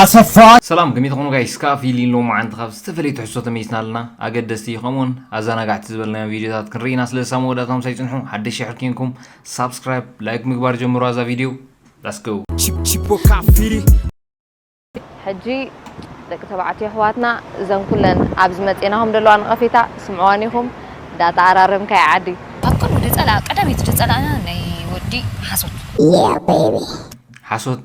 ኣሰፋ። ሰላም ከመይ ትኾኑ ጋይስ ክኣ ፊሊ ሎማዓንቲ ካብ ዝተፈለየ ትሕዝቶ ተመሊስና ኣለና ኣገደስቲ ከምኡውን ኣዛናጋዕቲ ዝበልናዮም ቪድዮታት ክንርኢ ኢና ስለዚ ሳብ መወዳእታ ምሳይ ጽንሑ ሓደሽ ሽሕር ኬንኩም ሳብስክራይብ ላይክ ምግባር ጀምሩዋ እዛ ቪድዮ ላስ ጎ ሕጂ ደቂ ተባዕትዮ ኣሕዋትና እዘን ኩለን ኣብዚ መጼናኹም ዘለዋ ነቐፌታ ስምዕዋን ኢኹም ዳታ ኣራረምካ እያ ዓዲ ኣብ ቅድሚ ድጸላ ቀዳመይቲ ድጸላና ናይ ወዲ ሓሶት ሓሶት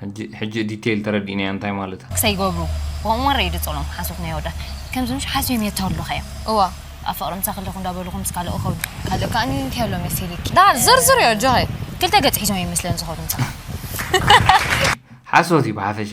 ሕጂ ሕጂ ዲቴይል ተረዲእናያ እንታይ ማለት እያ ክሰይ ገብሩ ወንወን ረይ ድጸሎም ሓሶት ናይ ወዳ ከምዚ ምሽ ሓስዮም የተውልኸ እዮም እዋ ኣብ ፍቕሪ ምሳ ክልኹ እንዳበልኹ ምስ ካልኦ ኸዱ ካልእ ከኣ እንታይ ኣሎ መሲልኪ ዳር ዝርዝር እዮ ጆኸ ክልተ ገጽ ሒዞም እዮም መስለን ዝኸዱ ምሳኻ ሓሶት እዩ ብሓፈሻ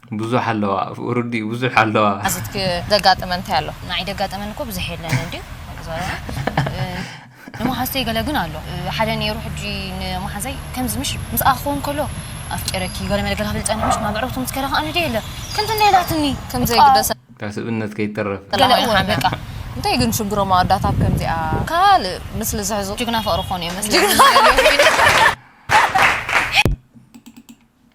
ብዙሕ ኣለዋ ኣብኡ ርድኡ ብዙሕ ኣለዋ። ኣዚትኪ ዘጋጠመ እንታይ ኣሎ? ንዓይ ዘጋጠመኒ እኮ ብዙሕ የለን እንድዩ ንመሓዙተይ ገለ ግን ኣሎ ሓደ ነይሩ ሕጂ ንመሓዘይ ከምዚ ምሽ ምስኣ ክኸውን ከሎ ኣፍቂረኪ ገለ መለ ገለ ክብል ጸኒሑ ምሽ ናብ ዕረፍቱ ምስ ከደ ከኣ ንድየ የለ ከምዚ እንደ ኢላትኒ ከምዘይ ግደሰ ካብ ስብእነት ከይተረፍ ገለ እወ በቃ እንታይ ግን ሽግሮም ኣወዳት ኣብ ከምዚኣ ካልእ ምስሊ ዝሕዙ ጅግና ፍቕሪ ክኾኑ እዮም መስለኒ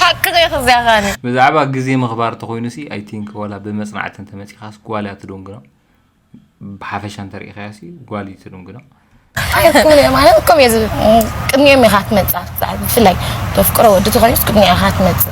ሓቂ ዘይክዚያኻኒ ብዛዕባ ግዜ ምኽባር እንተኾይኑ ሲ ኣይ ቲንክ ዋላ ብመጽናዕቲ እንተመጺኻስ ጓል እያ ትድንግኖ ብሓፈሻ እንተርኢኻያ ሲ ጓል እዩ ትድንግኖ ኣይኮነ ማለት ከምኡ እየ ዝብል ቅድሚኦም ኢኻ ትመፅእ ኣብቲ ፃዕሪ ብፍላይ ተፍቅሮ ወዲ ተኮይኑስ ቅድሚኣ ኢኻ ትመፅእ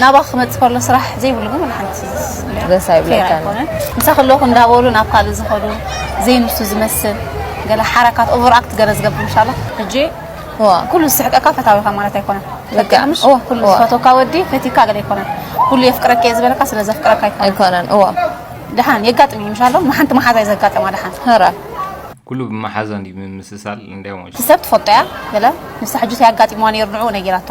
ናባ ክመጽእ ከሎ ስራሕ ዘይብሉ ግን ሓንቲ ደስ ኣይብለካን ምሳ ከለኹ እንዳበሉ ናብ ካልእ ዝኸዱ ዘይንሱ ዝመስል ገለ ሓረካት ኦቨር ኣክት ገለ ዝገብር ኢንሻ ኣላ ሕጂ ኩሉ ዝስሕቀካ ፈታዊኻ ማለት ኣይኮነን ፈቅምሽ ኩሉ ዝፈቶካ ወዲ ፈቲካ ገለ ኣይኮነን ኩሉ የፍቅረካ እየ ዝበለካ ስለ ዘፍቅረካ ኣይኮነን እዋ ድሓን የጋጥም እዩ ምሻሎ ንሓንቲ መሓዛ እዩ ዘጋጠማ ድሓን ራ ኩሉ ብመሓዛ እንዲ ምምስሳል እንዲያ ሰብ ትፈልጦ እያ ገለ ንሳ ሕጂ ያጋጢምዋ ነይሩ ንዕኡ ነጊራቶ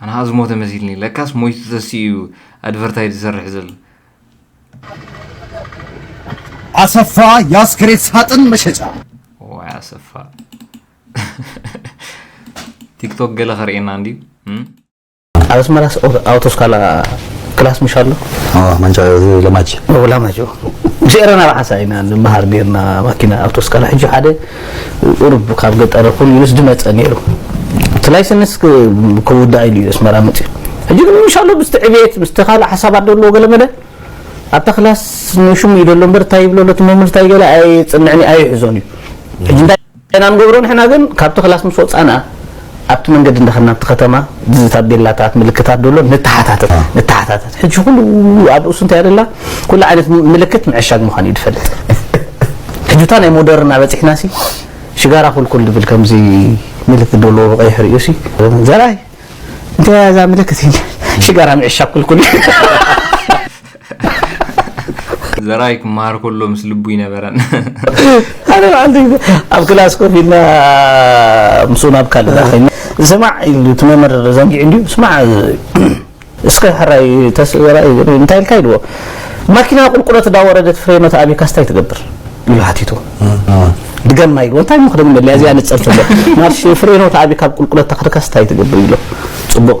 ኣነ ከዓ ዝሞተ መሲልኒ ለካስ ሞይቱ ተሲኡ እዩ ኣድቨርታይዝ ዝሰርሕ ዘሎ ኣሰፋ የኣስከሬት ሳጥን መሸጫ ዋይ ኣሰፋ ቲክቶክ ገለ ከርእየና እንድዩ ኣብ ኣስመራስ ኣውቶስካላ ክላስ ምሽ ኣሎ ማንጫ ለማጅ ላማጆ ምስ ኤረና ብሓሳ ኢና ንምሃር ነርና ማኪና ኣውቶስካላ ሕጂ ሓደ ቁሩብ ካብ ገጠር ይኹን ኢሉስ ድመጸ ኔሩ እቲ ላይሰንስ ክውዳእ ኢሉ ኢዩ ኣስመራ መጺኡ ሕጂ ግን ኢንሻሎ ምስቲ ዕብየት ምስቲ ካልእ ሓሳባት ዶ ኣለዎ ገለመለ ኣብታ ክላስ ንሹም ኢዩ ዘሎ እምበር እንታይ ይብሎ ኣሎ እቲ መምህር እንታይ ገለ ኣየጽንዕን ኣየሕዞን ኢዩ ሕጂ እንታይ ኢና ንገብሮ ንሕና ግን ካብቲ ክላስ ምስ ወጻና ኣብቲ መንገዲ እንዳ ከድና ኣብቲ ከተማ እዚ ታቤላታት ምልክታት ደሎ ንተሓታተት ንተሓታተት ሕጂ ኩሉ ኣብ ርእሱ እንታይ ኣለላ ኩሉ ዓይነት ምልክት ምዕሻግ ምዃኑ እዩ ዝፈልጥ ሕጂታ ናይ ሞደርን ኣበፂሕና ሲ ሽጋራ ኩልኩል ድብል ከምዚ ምልክት ደሎ ብቀይሕ ርእዩ ሲ ዘርኣይ እንታይ እዛ ምልክት ሽጋራ ምዕሻግ ኩልኩል ዘራይ ክመሃር ከሎ ምስ ልቡ ይነበረን ኣነ በዓልቲ ኣብ ክላስ ኮፍ ኢልና ምስኡ ናብ ካልእ ኮይና ስማዕ ኢሉ እቲ መምህር ዘንጊዑ እንዲዩ ስማዕ እስከ ሕራይ ተስራይ እንታይ ኢልካ ኢልዎ ማኪና ቁልቁለት እንዳወረደት ፍሬኖት ኣቢካስ እንታይ ትገብር ኢሉ ሓቲቱ ድገማ ኢልዎ እንታይ ምክደግመለያ እዚኣ ንፀር ትብሎ ማርሽ ፍሬኖት ኣቢካ ቁልቁለት ተክርካስ እንታይ ትገብር ኢሎ ፅቡቅ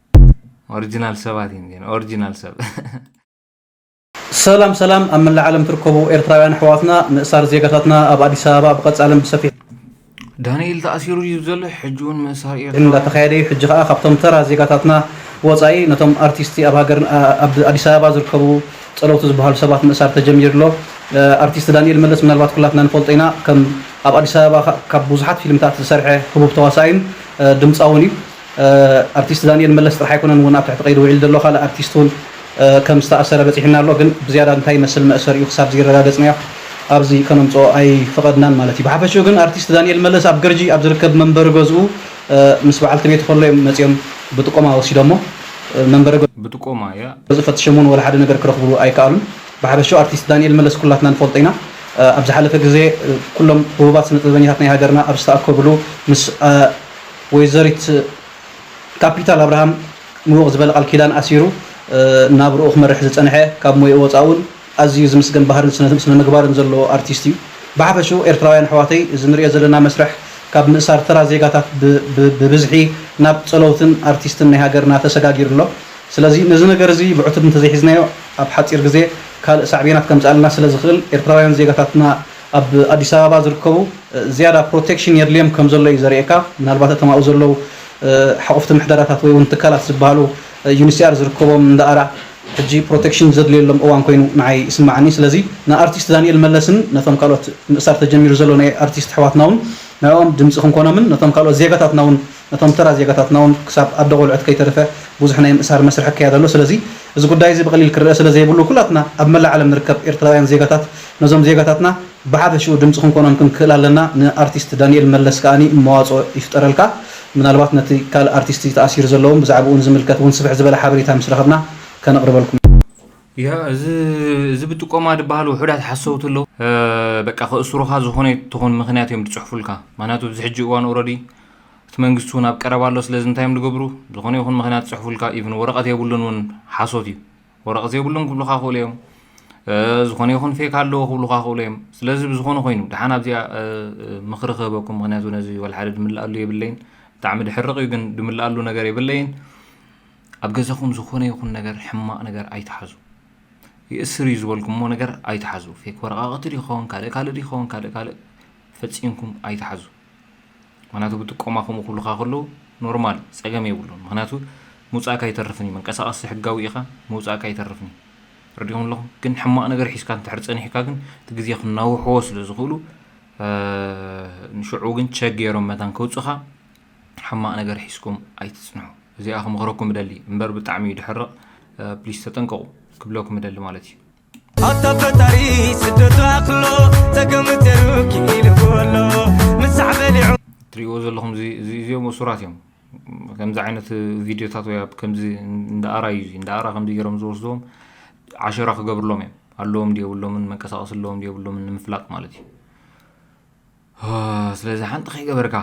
ኦርጅናል ሰባት እዩም እዚኤን ኦርጅናል ሰብ። ሰላም ሰላም ኣብ መላእ ዓለም ትርከቡ ኤርትራውያን ኣሕዋትና ምእሳር ዜጋታትና ኣብ ኣዲስ ኣበባ ብቀጻልን ብሰፊሑ ዳንኤል ተኣሲሩ ድዩ ዘሎ ሕጂ ውን ምእሳር ኤርትራውያን እንዳተኻየደ እዩ ሕጂ ከኣ ካብቶም ተራ ዜጋታትና ወጻኢ ነቶም ኣርቲስቲ ኣብ ሃገር ኣብ ኣዲስ ኣበባ ዝርከቡ ጸለውቲ ዝበሃሉ ሰባት ምእሳር ተጀሚሩ ኣሎ ኣርቲስት ዳንኤል መለስ ምናልባት ኩላትና ንፈልጦ ኢና ከም ኣብ ኣዲስ ኣበባ ካብ ብዙሓት ፊልምታት ዝሰርሐ ህቡብ ተዋሳኣይን ድምጻውን እዩ ኣርቲስት ዳኒኤል መለስ ጥራሕ ኣይኮነን ውን ኣብ ትሕቲ ቀይዲ ውዒሉ ዘሎ ካልእ ኣርቲስት ውን ከም ዝተኣሰረ በጺሑና ኣሎ ግን ብዝያዳ እንታይ ይመስል መእሰሪኡ ክሳብ ዝይረጋገጽናዮ ኣብዚ ከነምጽኦ ኣይፈቐድናን ማለት እዩ ብሓፈሽኡ ግን ኣርቲስት ዳኒኤል መለስ ኣብ ገርጂ ኣብ ዝርከብ መንበሪ ገዝኡ ምስ በዓልቲ ቤቱ ከሎ እዮም መጺኦም ብጥቆማ ወሲዶሞ መንበሪ ብጥቆማ እያ። ገዝኡ ፈትሸም ውን ወላ ሓደ ነገር ክረኽብሉ ኣይከኣሉን ብሓፈሽኡ ኣርቲስት ዳኒኤል መለስ ኩላትና ንፈልጦ ኢና ኣብ ዝሓለፈ ግዜ ኩሎም ህቡባት ስነጥበበኛታት ናይ ሃገርና ኣብ ዝተኣከብሉ ምስ ወይዘሪት ካፒታል ኣብርሃም ምውቕ ዝበለ ቃል ኪዳን ኣሲሩ ናብርኡ ክመርሕ ዝጸንሐ ካብ ሞይኡ ወጻእ'ውን ኣዝዩ ዝምስገን ባህርን ስነ ምግባርን ዘለዎ ኣርቲስት'ዩ። ብሓፈሽኡ ኤርትራውያን ኣሕዋተይ እዚ ንርእዮ ዘለና መስርሕ ካብ ምእሳር ተራ ዜጋታት ብብዝሒ ናብ ጸለውትን ኣርቲስትን ናይ ሃገርና ተሰጋጊሩ ኣሎ። ስለዚ ነዚ ነገር እዚ ብዕቱብ እንተዘይሒዝናዮ ኣብ ሓጺር ግዜ ካልእ ሳዕቤናት ከምጽኣልና ስለዝኽእል ኤርትራውያን ዜጋታትና ኣብ ኣዲስ ኣበባ ዝርከቡ ዝያዳ ፕሮቴክሽን የድልዮም ከም ዘሎ እዩ ዘርእየካ። ምናልባት እቶም ኣብኡ ዘለዉ ሓቑፍቲ ምሕደራታት ወይ እውን ትካላት ዝበሃሉ ዩኒሲኣር ዝርከቦም እንዳኣራ ሕጂ ፕሮቴክሽን ዘድልዮሎም እዋን ኮይኑ ንዓይ ይስመዓኒ። ስለዚ ንኣርቲስት ዳኒኤል መለስን ነቶም ካልኦት ምእሳር ተጀሚሩ ዘሎ ናይ ኣርቲስት ኣሕዋትና እውን ንዕኦም ድምጺ ክንኮኖምን ነቶም ካልኦት ዜጋታትና እውን ነቶም ተራ ዜጋታትና እውን ክሳብ ኣደ ቆልዑት ከይተረፈ ብዙሕ ናይ ምእሳር መስርሕ ክካየድ ኣሎ። ስለዚ እዚ ጉዳይ እዚ ብቐሊል ክረኣ ስለ ዘይብሉ ኩላትና ኣብ መላእ ዓለም ንርከብ ኤርትራውያን ዜጋታት ነዞም ዜጋታትና ብሓፈሽኡ ድምጺ ክንኮኖም ክንክእል ኣለና ንኣርቲስት ዳኒኤል መለስ ከኣ መዋጽኦ ይፍጠረልካ ምናልባት ነቲ ካልእ ኣርቲስቲ ተኣሲሩ ዘሎ ውን ብዛዕብኡ ንዝምልከት ውን ስፍሕ ዝበለ ሓበሬታ ምስ ረኸብና ከነቕርበልኩም እያ እዚ እዚ ብጥቆማ ድበሃል ውሑዳት ሓሰውቲ ኣለው በቃ ከእስሩኻ ዝኾነ ትኹን ምኽንያት እዮም ድጽሕፉልካ ምኽንያቱ ኣብዚ ሕጂ እዋን ኦረዲ እቲ መንግስቲ ውን ኣብ ቀረባ ኣሎ ስለዚ እንታይ እዮም ድገብሩ ዝኾነ ይኹን ምኽንያት ጽሕፉልካ ኢቭን ወረቐት የብሉን ውን ሓሶት እዩ ወረቐት የብሉን ክብሉኻ ክእሉ እዮም ዝኾነ ይኹን ፌክ ኣለዎ ክብሉካ ክእሉ እዮም ስለዚ ብዝኾነ ኮይኑ ድሓን ኣብዚኣ ምክሪ ክህበኩም ምክንያቱ ነዚ ወልሓደ ድምልኣሉ የብለይን ብጣዕሚ ድሕርቕ እዩ ግን ድምልኣሉ ነገር የብለይን ኣብ ገዛኹም ዝኾነ ይኹን ነገር ሕማቕ ነገር ኣይትሓዙ ይእስር እዩ ዝበልኩሞ ነገር ኣይትሓዙ ፌክ ወረቃቕቲ ይኸውን ካልእ ካልእ ይኸውን ካልእ ካልእ ፈፂምኩም ኣይትሓዙ ምክንያቱ ብጥቆማ ከምኡ ክብሉኻ ከለዉ ኖርማል እዩ ጸገም የብሉን ምክንያቱ ምውጻእካ ኣይተርፍን እዩ መንቀሳቀሲ ሕጋዊ ኢኻ ምውጻእካ ኣይተርፍን እዩ ረዲኹም ኣለኹም ግን ሕማቅ ነገር ሒዝካ እንድሕር ጸኒሕካ ግን እቲ ግዜ ክናውሕዎ ስለ ዝኽእሉ ንሽዑ ግን ቸክ ገይሮም መታን ከውጽኻ ሕማቅ ነገር ሒዝኩም ኣይትጽንሑ እዚኣ ክምኽረኩም እደሊ እምበር ብጣዕሚ እዩ ድሕርቕ ፕሊስ ተጠንቀቑ ክብለኩም እደሊ ማለት እዩ ኣታ ፈጣሪ ስደቱ ኣክሎ ጸገም ተሩ ኪኢሉ ቦሎ ምሳሕ በሊዑ ትሪእዎ ዘለኹም እዚ እዚ- እዚኦም እሱራት እዮም ከምዚ ዓይነት ቪድዮታት ወይ ኣብ ከምዚ እንዳ ኣራ እዩ እዚ እንዳ ኣራ ከምዚ ገይሮም ዝወስድዎም ዓሸራ ክገብርሎም እዮም ኣለዎም ድየብሎምን መንቀሳቐሲ ኣለዎም ድየብሎምን ንምፍላጥ ማለት እዩ ስለዚ ሓንቲ ከይገበርካ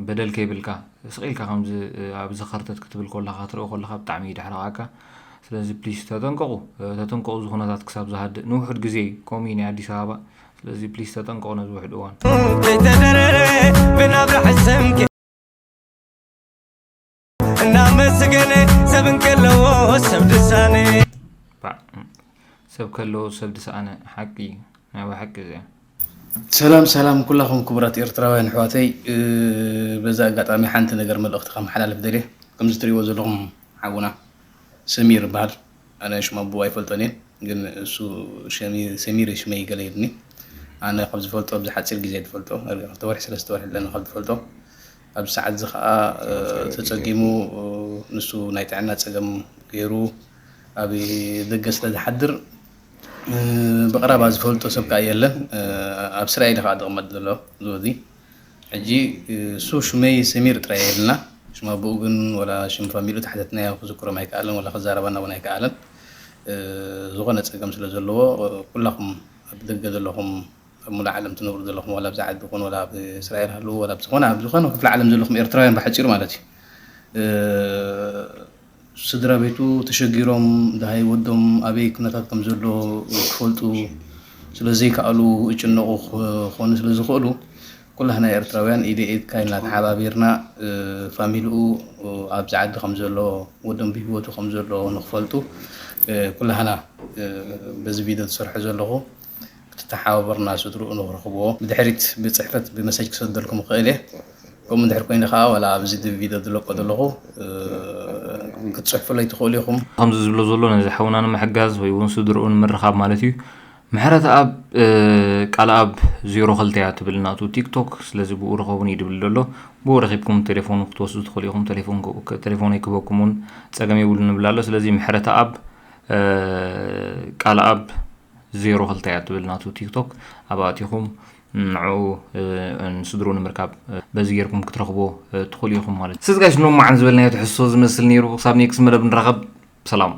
በደል ከይብልካ ስቅ ኢልካ ከምዚ ኣብዚ ከርተት ክትብል ኮለካ ክትርኢ ኮለካ ብጣዕሚ ይድሕረቃካ ስለዚ ፕሊስ ተጠንቀቁ ተጠንቀቁ እዚ ኩነታት ክሳብ ዝሃድእ ንውሑድ ግዜ እዩ ከምኡ እዩ ናይ ኣዲስ ኣበባ ስለዚ ፕሊስ ተጠንቀቁ ነዚ ውሕድ እዋን ዘይተደረረ ብናብራ ሕሰምከ እናመስገነ ሰብ እንከለዎ ሰብ ድሳነ ሰብ ከለዎ ሰብ ድሳነ ሓቂ ናይ ሓቂ እዚኣ ሰላም ሰላም ኩላኹም ክቡራት ኤርትራውያን ኣሕዋተይ በዛ ኣጋጣሚ ሓንቲ ነገር መልእኽቲ ከመሓላልፍ ደልየ ከምዚ ትሪእዎ ዘለኹም ሓውና ሰሚር ይበሃል ኣነ ሽም ኣቦ ኣይፈልጦን እየ ግን እሱ ሰሚር ሽመይ ገለ ይብኒ ኣነ ካብ ዝፈልጦ ኣብዚ ሓፂር ግዜ ዝፈልጦ ክልተ ወርሒ ሰለስተ ወርሒ ኣለና ካብ ዝፈልጦ ኣብዚ ሰዓት እዚ ከኣ ተጸጊሙ ንሱ ናይ ጥዕና ጸገም ገይሩ ኣብ ደገ ስለ ዝሓድር ብቕረባ ዝፈልጦ ሰብ ከኣ የለን ኣብ እስራኤል እዩ ከኣ ዝቕመጥ ዘሎ ዝወዚ ሕጂ እሱ ሽመይ ሰሚር ጥራይ እዩ ኢሉና ሽም ኣቦኡ ግን ወላ ሽም ፋሚሉ ተሓተትናዮ ክዝክሮም ኣይከኣለን ወላ ክዛረባና እውን ኣይከኣለን ዝኾነ ጸገም ስለ ዘለዎ ኩላኹም ኣብ ደገ ዘለኹም ኣብ ሙሉእ ዓለም ትነብሩ ዘለኹም ዋላ ኣብዚ ዓዲ ኩኑ ዋላ ኣብ እስራኤል ሃልዉ ዋላ ኣብ ዝኾነ ኣብ ዝኾነ ክፍለ ዓለም ዘለኹም ኤርትራውያን ብሓጺሩ ማለት እዩ ስድራ ቤቱ ተሸጊሮም ድሃይ ወዶም ኣበይ ኩነታት ከም ዘሎ ክፈልጡ ስለ ዘይከኣሉ እጭነቑ ክኾኑ ስለ ዝኽእሉ ኩላህና ኤርትራውያን ኢደ ኢድካ ኢልና ተሓባቢርና ፋሚሊኡ ኣብዚ ዓዲ ከም ዘሎ ወዶም ብሂወቱ ከም ዘሎ ንክፈልጡ ኩላህና በዚ ቪድዮ ዝሰርሖ ዘለኹ ክትተሓባበሩና ስድርኡ ንክረኽብዎ ብድሕሪት ብጽሕፈት ብመሰጅ ክሰደልኩም እኽእል እየ ከምኡ እንድሕር ኮይኑ ከኣ ዋላ ኣብዚ ድብ ቪድዮ ድለቆ ደለኹ ክትጽሕፉለይ ትኽእሉ ኢኹም። ከምዚ ዝብሎ ዘሎ ነዚ ሓውና ንምሕጋዝ ወይ ውን ስድርኡ ንምርኻብ ማለት እዩ። ምሕረተኣብ ቃልኣብ ዜሮ ክልተ እያ ትብል ናቱ ቲክቶክ ስለዚ ብኡ ርኸቡኒ እዩ ድብል ደሎ ብኡ ረኺብኩም ተሌፎኑ ክትወስዱ ትኽእሉ ኢኹም ተሌፎን ተሌፎነይ ክህበኩም ውን ጸገም የብሉን ንብል ኣሎ ስለዚ ምሕረተኣብ ቃልኣብ ዜሮ ክልተ እያ ትብል ናቱ ቲክቶክ ኣብኣ ኣቲኹም ንዕኡ ንስድሩ ንምርካብ በዚ ጌርኩም ክትረኽቦ ትኽእሉ ኢኹም ማለት እዩ። ስለዚ ጋይስ ኖማዓን ዝበልናዮ ትሕዝቶ ዝመስል ነይሩ። ክሳብ ኔክስት መደብ ንራኸብ። ሰላም።